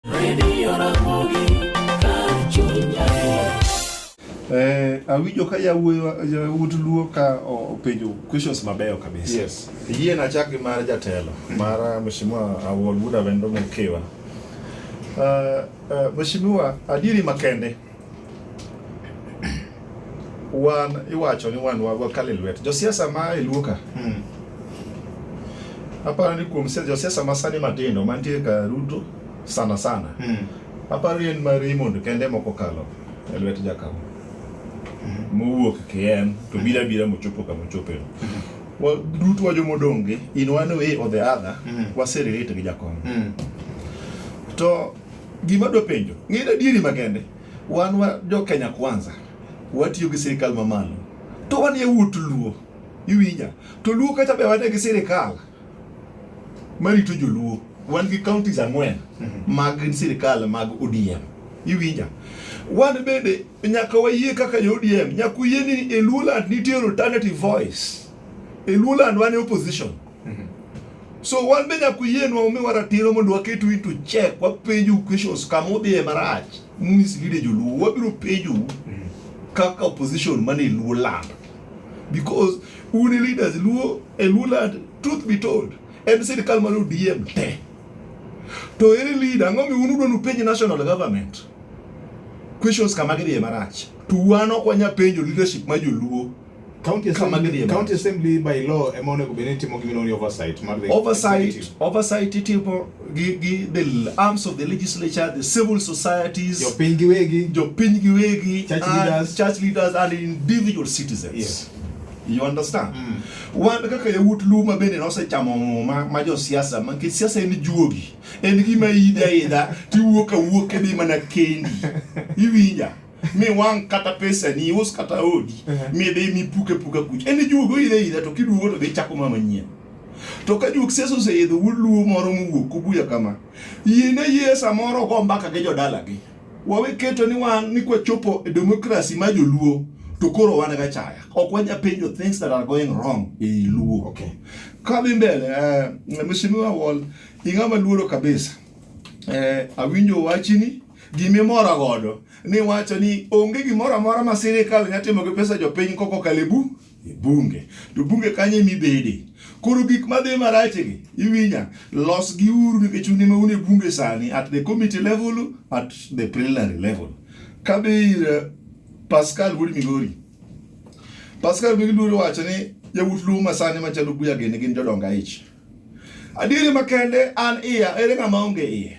Radio Ramogi, kar chuny adier. Eh, awinjo ka yawuoyi yawuot luo ka o- openjo questions mabeyo kabisa Yes. Yie na chak gi mar jatelo mar Mheshimiwa Awol Buda Wendo Mkiwa. Uh, uh, Mheshimiwa, adieri makende wan iwacho ni wan wagwa kale lwet josiasa ma e luoka hmm. aparo ni kuom josiasa ma sani matindo mantie ka ruto sana sana hmm. aparo ni en ma Raymond kende moko kalo e lwet jakawo hmm. mowuok kien to hmm. bira bira mochopo kama ochope hmm. duto wa jomodonge in one way or the other hmm. waserelate gi jakom hmm. to Gima dwa penjo, ng'e adieri makende, wan wa jo Kenya Kwanza, watiyo gi sirikal mamalo, to wan yawuot Luo, iwinja, to Luo kacha be wane gi sirikal marito joluo, wan gi counties ang'wen mhm. mag sirikal mag ODM, iwinja, wan bende nyaka wayie kaka jo ODM, nyaka uyie ni e Luoland nitie alternative voice, e Luoland wan e opposition Mm-hmm. So wan be nyaka uyie nwa umiwa ratiro mondo waketu into check, wapenju questions kama udhiye marach, mumislide joluo, wabiro penju mm-hmm. kaka opposition mane e Luo land. Because un e leaders Luo, e Luo land, truth be told, en sirikal mar ODM te. To ere leader, ang'o mi un udwa nupenj national government? Questions kama gidhiye marach. To wan ok wanya penjo leadership ma joluo. County Kama Assembly, gidhi e County mach. Assembly by law ema onego bed ni timo gimoro ni oversight mar the oversight executive. oversight itimo gi, gi the arms of the legislature the civil societies jopiny giwegi jopiny giwegi Church and leaders. church leaders and individual citizens Yes. you understand wan kaka yawuot luma bende nosechamo muma ma josiasa ma nikech siasa en juogi en gima idha idha tiwuok awuok kidhi mana kendi iwinja mi wang' kata pesa ni us kata odi mi dhi mi puke puka kuch en juogo idhe idha to kiduogo to dhi chako ma manyien to ka juok sesa oseidho wuluo moro mowuok kubuya kama yiene yie samoro go mbaka gi jodalagi wawe keto ni wan ni kwachopo e demokrasi ma joluo to koro wan ga chaya ok wanya penjo things that are going wrong e i luo Okay. kadhi mbele uh, mheshimiwa wall ing'ama luoro kabisa eh, awinjo wachini Gima imora godo ni wacho ni onge gimoro amora ma sirkal nya timo gi pesa jopiny koko kalebu e bunge to bunge kanye mibede koro gik madhi marachegi iwinya los gi uru nikech un ema un e bunge sani at the committee level at the preliminary level kabir eh, Pascal wuod Migori Pascal Migori wacho ni yawuot luo masani machalo buya gini gin jodonga ich adieri makende an iya ere ng'ama onge iye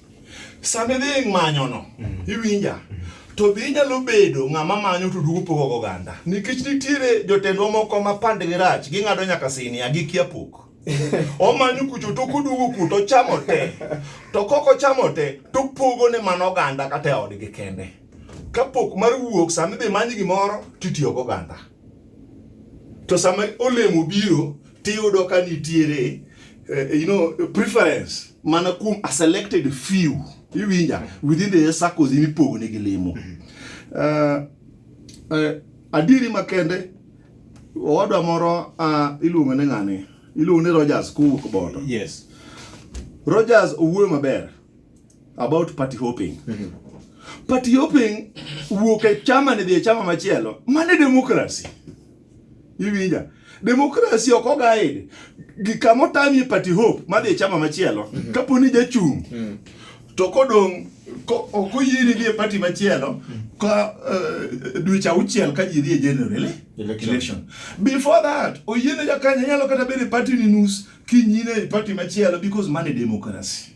Sama idhi e manyono, mm. iwinja. Mm. To be inyalo bedo ng'ama manyo to duogo pogo go oganda. Nikech nitiere jotendwa moko ma pandgi rach, ging'ado nyaka sinia gi kia pok. Omanyo kucho to koduogo ku to chamo te. To koko chamo te to pogo ne mano oganda kata e odgi kende. Kapok mar wuok sama idhi manyo gimoro titiyo go oganda. to sama olemo biro tiyudo ka nitiere uh, you know, preference mana kuom a selected few iwinja within the circles imipogo negi lemo uh, uh, adieri makende owadwa moro uh, iluongo ne ng'ani iluongo ni Rogers kowuok bondo yes Rogers owuoyo maber about party hopping mm-hmm. party hopping wuok e chama ni dhi e chama machielo mane demokrasi iwinja demokrasi ok ogaid gikama otamie party hope madhi e chama machielo mm-hmm. kapo ni jachung mm-hmm. to kodong' ok oyieni dhi e party machielo mm-hmm. ka uh, dweche auchiel ka ji dhi e general election. election before that oyiene jakanya nyalo kata bedo e party ni nus kinyine e party machielo because mane demokrasi